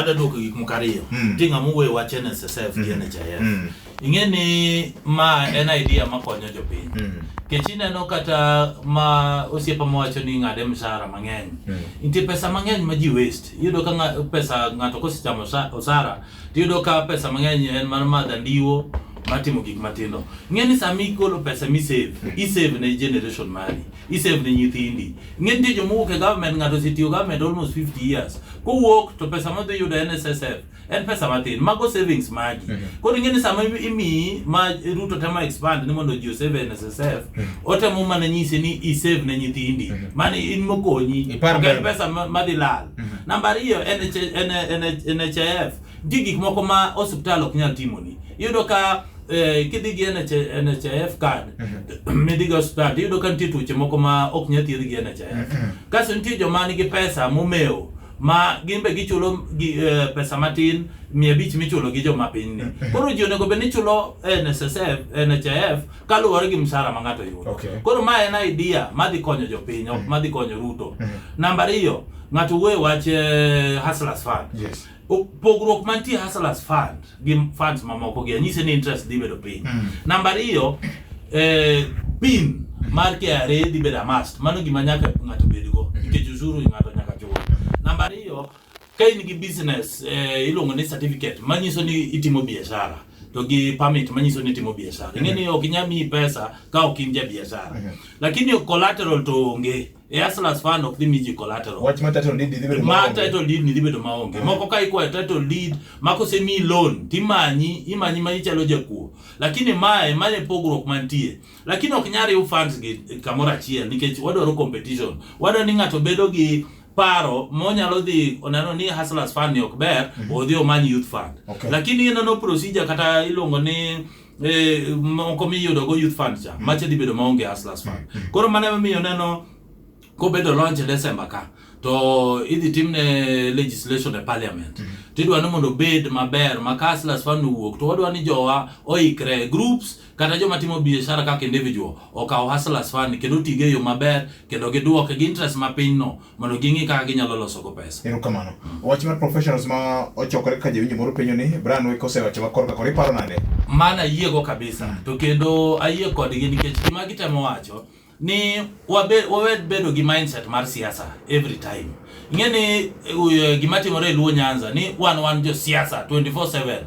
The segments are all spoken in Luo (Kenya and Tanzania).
adadwoko gik moko ariyo mm. ti ng'ama owuoyo wach NSSF gi NHIF mm. mm. ing'e ni ma en idea makonyo jopiny mm. kech ineno kata ma osiepa mawacho ni ng'ade msara mang'eny mm. nitie pesa mang'eny ma ji waste iyudo ka nga, pesa ng'ato kosechamo osara Tiyudo ka pesa mang'eny en mar madha ndiwo matimo gik matindo. Ng'e ni sama igolo pesa mi save, i save ne generation mari, i save ne nyithindi. Ng'e nitie joma owuok e government ng'ato osetiyo government almost 50 years. Kowuok to pesa modhi yudo en SSF, en pesa matin. Mago savings magi. Koro ing'e ni sama imiyi ma Ruto temo expand ni mondo ji osave e NSSF, otemo mana nyisi ni i save ne nyithindi. Mano in mokonyi. Ipar Ok en mbele. pesa ma- madhi lal. Mhm. Namba ariyo NHIF, nitie gik moko ma osiptal ok nyal timoni. Iyudo ka eh, kidhi gi NHIF card mhm. midhi gi osiptal iyudo ka nitie tuoche moko ma ok nyal thiedh gi NHIF. Mhm. Kaso nitie joma nigi pesa momewo ma gin be gichulo gi, eh, pesa matin mia abich michulo gi joma piny ni. Koro ji onego bed ni chulo NSSF, NHIF kaluwore gi msara ma ng'ato yudo. Okay. Koro ma en idea madhi konyo jopiny, ok madhi konyo Ruto. Namba ariyo, ng'ato wuoye wach eh, Hustlers Fund. Yes. O- Pogruok mantie Hustlers Fund gi funds mamoko gi anyise ni interest dhi bedo piny. Namba ariyo, eh, pin mar KRA dhi bedo a must. Mano gima nyaka ng'ato bedgo nikech usuru ng'ato nyaka chul. Namba ariyo, Ka in gi business eh, iluongo ni certificate manyiso ni itimo biashara to gi permit manyiso ni itimo biashara. Ing'e ni ok inyal miyi pesa ka ok in ja biashara. Mhm. Lakini collateral to onge. E Hustlers Fund ok dhi mi ji collateral. Wach ma title deed dhi bedo ma maonge. title deed ni dhi bedo maonge. Moko ka ikwayo title deed ma kosemi loan timanyi imanyi ma ichalo jakuo. Lakini mae mae e pogruok mantie. Lakini ok nyar riw funds gi kamoro achiel nikech wadwaro competition. Wadwaro ni ng'ato bedo gi paro monyalo dhi oneno ni hustlers fund ni ok ber mm -hmm. odhi omany youth fund okay. lakini ineno procedure kata iluongo ni eh, moko miyudo go youth fund cha mm -hmm. mache dhi bedo maonge hustlers fund mm -hmm. koro mane miyo neno kobedo launch e December ka to idhi timne legislation e parliament mm -hmm. tidwa ni mondo obed maber ma hustlers fund owuok to wadwa ni jowa oikre groups kata joma timo biashara kaka individual okawo hustlers fund kendo tige e yo maber kendo giduoke gi interest ma piny no mondo ging'i kaka ginyalo loso go pesa. Ero kamano. Wach mar professionals ma ochokore kaka jawinjo moro penyo ni Brian Weko osewacho ma korka kore paro nade? Mana ayiego kabisa to kendo ayie kodgi nikech gima gitemo wacho ni wabe, wawe bedo gi mindset mar siasa every time ing'e ni uh, gima timore e luo nyanza ni wan wan jo siasa 24/7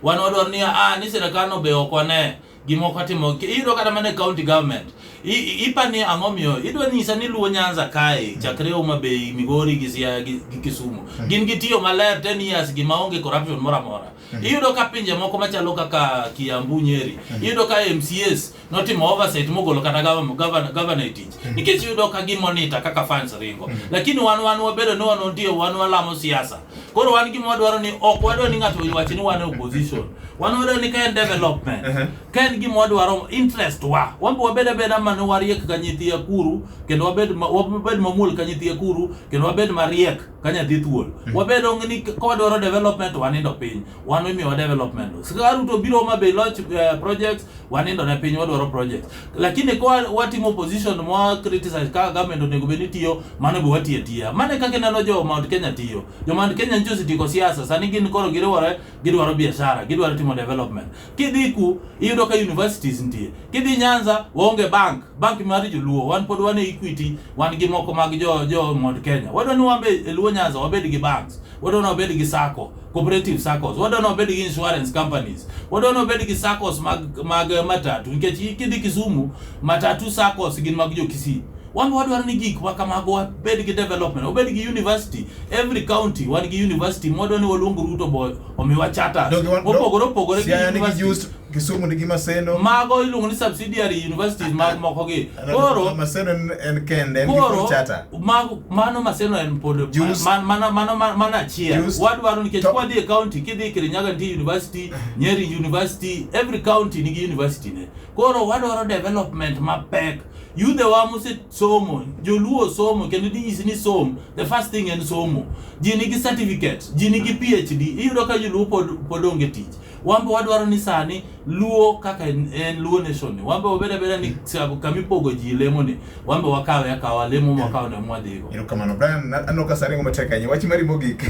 wan wadwaro ni ah, ni sirikal no be ok wane gima ok watimo iyudo kata mana e county government ipa ni ang'o miyo idwa nyisa ni luo nyanza kae chakre Homa Bay Migori gi Siaya gi, gi Kisumu hmm. gin gi tiyo maler 10 years gima onge corruption mora mora hmm. iyudo ka pinje moko machalo kaka Kiambu Nyeri hmm. iyudo ka MCAs notimo oversight mogolo kata governor governor governor e tich nikech yudo ka gimonita kaka fans ringo lakini wan wan wabedo ni wan ndio wan walamo siasa koro wan gima wadwaro ni ok wadwaro ni ng'ato owach ni wan e opposition wan wadwaro ni ka en development Ehe. ka en gima wadwaro interest wa wan be wabed abeda mane wariek ka nyithi akuru kendo wabed ma- wabed mamuol ka nyithi akuru kendo wabed mariek ka nyathi thuol mm. wabedo ni kawadwaro development wanindo piny wan imiwa development sikaruto biro ma be launch uh, eh, projects wanindo ne piny wadwaro projects lakini kwa watimo opposition mwa criticize ka government onego bed ni tiyo mano be watiyo atiya mane kaka ineno jo Mount Kenya tiyo jo Mount Kenya nyicho osetieko siasa sani gin koro giriwore gidwaro biashara gidwaro timo development Kidhi ku iyudo ka universities nitie. Kidhi Nyanza waonge bank, bank mar joluo. Wan pod wan e Equity, wan gi moko mag jo jo Mount Kenya. Wadwa ni wambe e Luo Nyanza wabed gi banks. Wadwa ni wabed gi sacco, cooperative saccos. Wadwa ni wabed gi insurance companies. Wadwa ni wabed gi saccos mag mag eh, matatu nikech kidhi Kisumu matatu saccos gin mag jo Kisii. Wan wadwaro ni gik ma kamago wabed gi development, wabed gi university. Every county wan gi university mwadwa ni waluong Ruto boy omiwa charters Donge wan- mopogore opogore gi Siaya nigi university. just Kisumu nigi Maseno. mago iluongo ni subsidiary universities mag moko gi koro Maseno en- en kende en gi koro full charter. mago- mano maseno en pod Jus- man- mano mano mano mano achiel Jus- wadwaro nikech to- kwadhi e county kidhi e kirinyaga nitie university nyeri university every county nigi university ne koro wadwaro development mapek yudhewa mose somo joluo somo kendo dinyisi ni som the first thing en somo ji nigi certificate ji nigi phd iyudo ka joluo pod, pod onge tich wambe wadwaro ni sani luo kaka en en luo nation ni wambe wabed abeda ni sa- kamipogo ji lemo ni wambe wakawe akawa lemo mwakawo ne mwadhigo erokamano brian na- aneno ka saringo matek ahinya wach mari mogik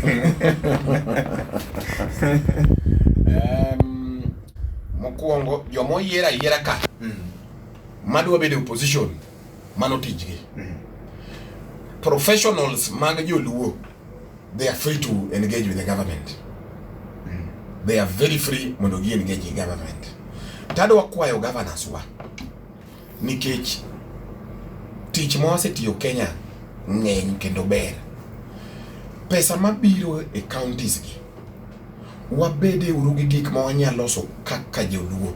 Em, mokwongo joma oyier ayiera ka Mm. Madwa bedo opposition mano tijgi. Mm. Professionals mag joluo they are free to engage with the government. Mm. They are very free mondo gi engage with government. Tadwa kwayo governors wa nikech tich ma wasetiyo Kenya ng'eny kendo ber. Pesa mabiro e counties gi Wabede uru gi gik ma wanyalo loso kaka joluo.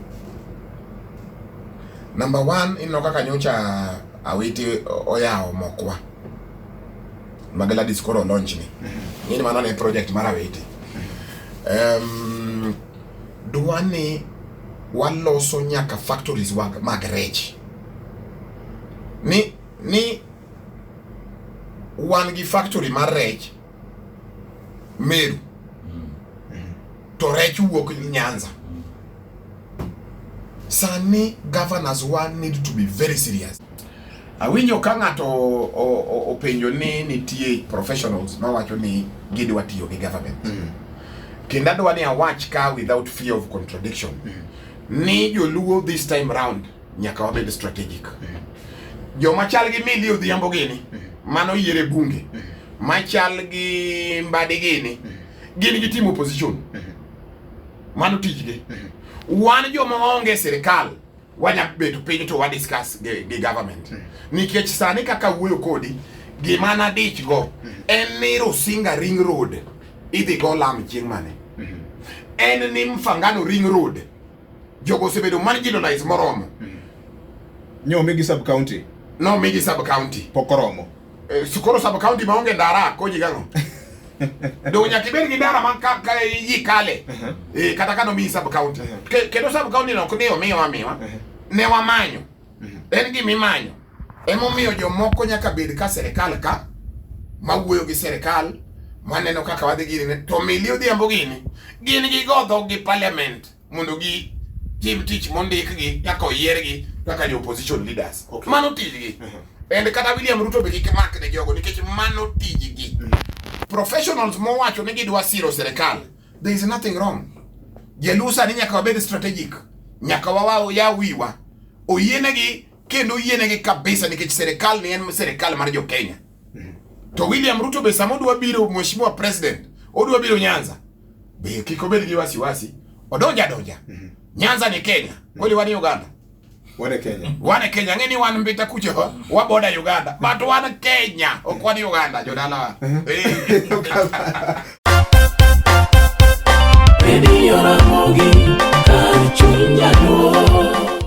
Number one, ineno kaka nyocha Awiti oyawo mokwa. Ma Gladys koro launch ni. Ng'ini mano ne project mar Awiti. Um, dwa ni waloso nyaka factories mag, mag rech. Ni, ni wan gi factory mar rech Meru to rech wuok Nyanza. Sani governors wa need to be very serious. Awinjo ka ng'ato o- o- openjo ni nitie professionals mawacho ni gidwa tiyo gi government. Kendo adwa ni awach ka without fear of contradiction ni joluo this time round nyaka wabed strategic. Joma chal gi Milly Odhiambo gini mano yiere bunge machal gi Mbadi gini gin gi team opposition mano tijgi. Wan joma onge sirkal wanya bedo piny to wa discuss gi, gi government nikech sani kaka wuoyo kodi gima nadich go en ni Rusinga Ring Road idhi go lam chieng' mane en ni Mfangano Ring Road Jogo osebedo marginalized moromo. Mm. Nyomigi sub county. No migi sub county. Pok oromo. Eh, sikoro sub county maonge ndara konyi gang'o? Donge nyaka ibed gi ndara man ka, ka yi kale. Uh -huh. Eh, kata kano mi sub county. Uh -huh. Kendo sub county no ok ni omiwa miwa. Uh -huh. Ne wamanyo. Uh -huh. En gima imanyo. Emomiyo jomoko nyaka bed ka serikal ka mawuoyo gi serikal maneno kaka wadhi gini to mili odhiambo gini gin gi godho gi parliament mondo gi tim tich mondik gi kaka oyier gi kaka jo opposition leaders okay. mano tij gi mhm. and kata William Ruto be kik mak ne jogo nikech mano tij gi mhm. professionals mowacho ni gidwa siro serikal there is nothing wrong jelusa ni nyaka wabed strategic nyaka wawa ya wiwa oyienegi kendo oyienegi kabisa nikech serikal ni en serikal mar jo Kenya. To William Ruto be sama odwa biro mheshimiwa president, odwa biro Nyanza. Be kik obed gi wasiwasi, odonja donja. Nyanza ni Kenya, kweli wan Uganda. Wane Kenya. Wan Kenya, ng'e ni wan mbita kucho wa- waboda Uganda, but wan Kenya, ok wan Uganda jodalawa. Eh. Redio Ramogi, kar chuny nyaduo.